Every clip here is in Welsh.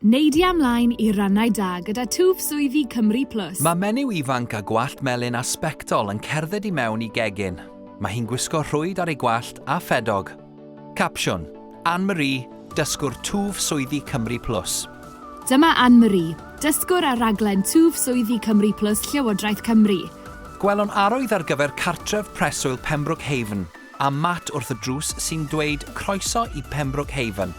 Neidia ymlaen i rannau da gyda twf swyddi Cymru Plus. Mae menyw ifanc â gwallt melyn a sbectol yn cerdded i mewn i gegin. Mae hi'n gwisgo rhwyd ar ei gwallt a ffedog. Capsiwn, Anne-Marie, dysgwr twf swyddi Cymru Plus. Dyma Anne-Marie, dysgwr ar raglen twf swyddi Cymru Plus Llywodraeth Cymru. Gwelwn arwydd ar gyfer cartref preswyl Pembroke Haven. A Matt wrth y drws sy'n dweud croeso i Pembroke Haven.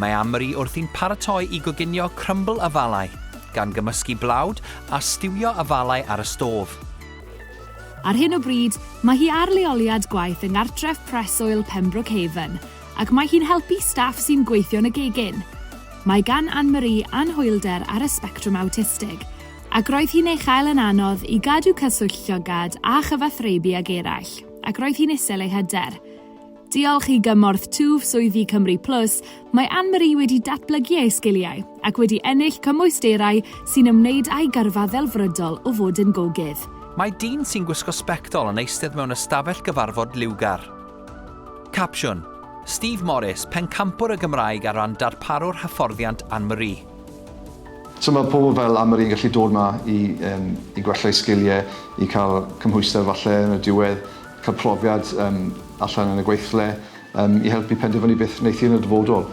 Mae Amri wrthi'n paratoi i goginio crymbl afalau, gan gymysgu blawd a stiwio afalau ar y stôf. Ar hyn o bryd, mae hi ar leoliad gwaith yng Nghartref Preswyl Pembroke Haven, ac mae hi'n helpu staff sy'n gweithio yn y gegin. Mae gan Anne-Marie anhwylder ar y sbectrwm awtistig, Ac roedd hi'n ei chael yn anodd i gadw cyswllt llygad a chyfathrebu ag eraill, ac roedd hi'n isel ei hyder. Diolch i gymorth twf swyddi Cymru Plus, mae Anne-Marie wedi datblygu ei sgiliau ac wedi ennill cymwysterau sy'n ymwneud â'i gyrfa ddelfrydol o fod yn gogydd. Mae dyn sy'n gwisgo sbectol yn eistedd mewn ystafell gyfarfod liwgar. Capsiwn, Steve Morris, pencampwr y Gymraeg ar ran darparu'r hyfforddiant Anne-Marie. So mae pobl fel Anne-Marie yn gallu dod 'ma i yym i gwella'u sgiliau, i cael cymhwyster falle yn y diwedd, cael profiad yym allan yn y gweithle, yym i helpu penderfynu beth wneithi yn y dyfodol.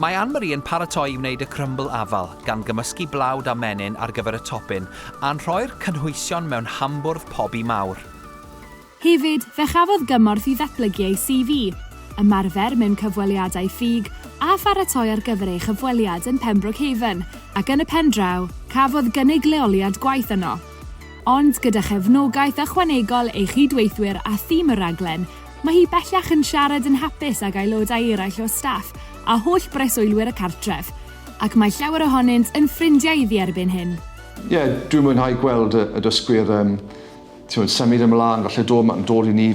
Mae Anne-Marie yn paratoi i wneud y crymbl afal, gan gymysgu blawd a menyn ar gyfer y topin, a'n rhoi'r cynhwysion mewn hambwrdd pobi mawr. Hefyd, fe chafodd gymorth i ddatblygu ei CV, ymarfer mewn cyfweliadau ffug a pharatoi ar gyfer ei chyfweliad yn Pembroke Haven, ac yn y pen draw, cafodd gynnig leoliad gwaith yno. Ond gyda chefnogaeth ychwanegol ei chyd-weithwyr a thîm y rhaglen, mae hi bellach yn siarad yn hapus ag aelodau eraill o staff a holl breswylwyr y cartref, ac mae llawer ohonynt yn ffrindiau iddi erbyn hyn. Ie, dwi'n mwynhau gweld y dysgwyr yn t'mod symud ymlan falle do' ma' dod i ni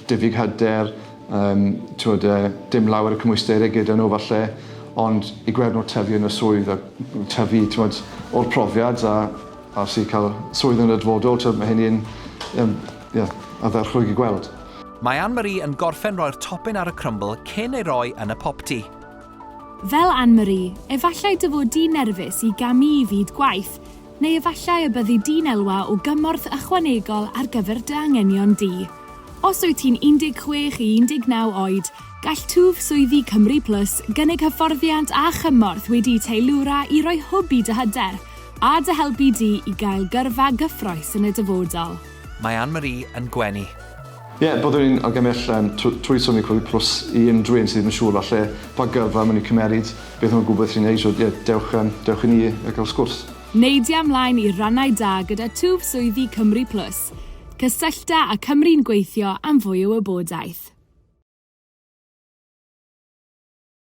diffyg hyder yym t'wod yy dim lawer o cymwysterau gyda n'w falle ond i gweld n'w tyfu yn y swydd a tyfu t'mod o'r profiad a a sy ca'l swydd yn y dyfodol t'wod ma' hynny yn yym ie ardderchog i gweld. Mae Ann Marie yn gorffen roi'r topin ar y crymbl cyn ei roi yn y popty. Fel Ann Marie, efallai dy fod di'n nerfus i gamu i fyd gwaith, Neu efallai y byddi di'n elwa o gymorth ychwanegol ar gyfer dy anghenion di. Os wyt ti'n 16 i 19 oed, gall twf swyddi Cymru Plus gynnig hyfforddiant a chymorth wedi'u teilwra i roi hwb i dy hyder a dy helpu di i gael gyrfa gyffrous yn y dyfodol. Mae Anne-Marie yn gwenu. Ie, byddwn ni'n argymell yym tw- trwy Sony Cwmni Plus i unrhyw un sydd ddim yn siŵr falle pa gyrfa maen nhw'n cymeryd, beth maen nhw'n gwybod sy'n neis, so ie, dewch yym dewch i ni a cael sgwrs. Neidia mlaen i rannau da gyda twf swyddi Cymru Plus. Cysyllta â Cymru'n Gweithio am fwy o wybodaeth.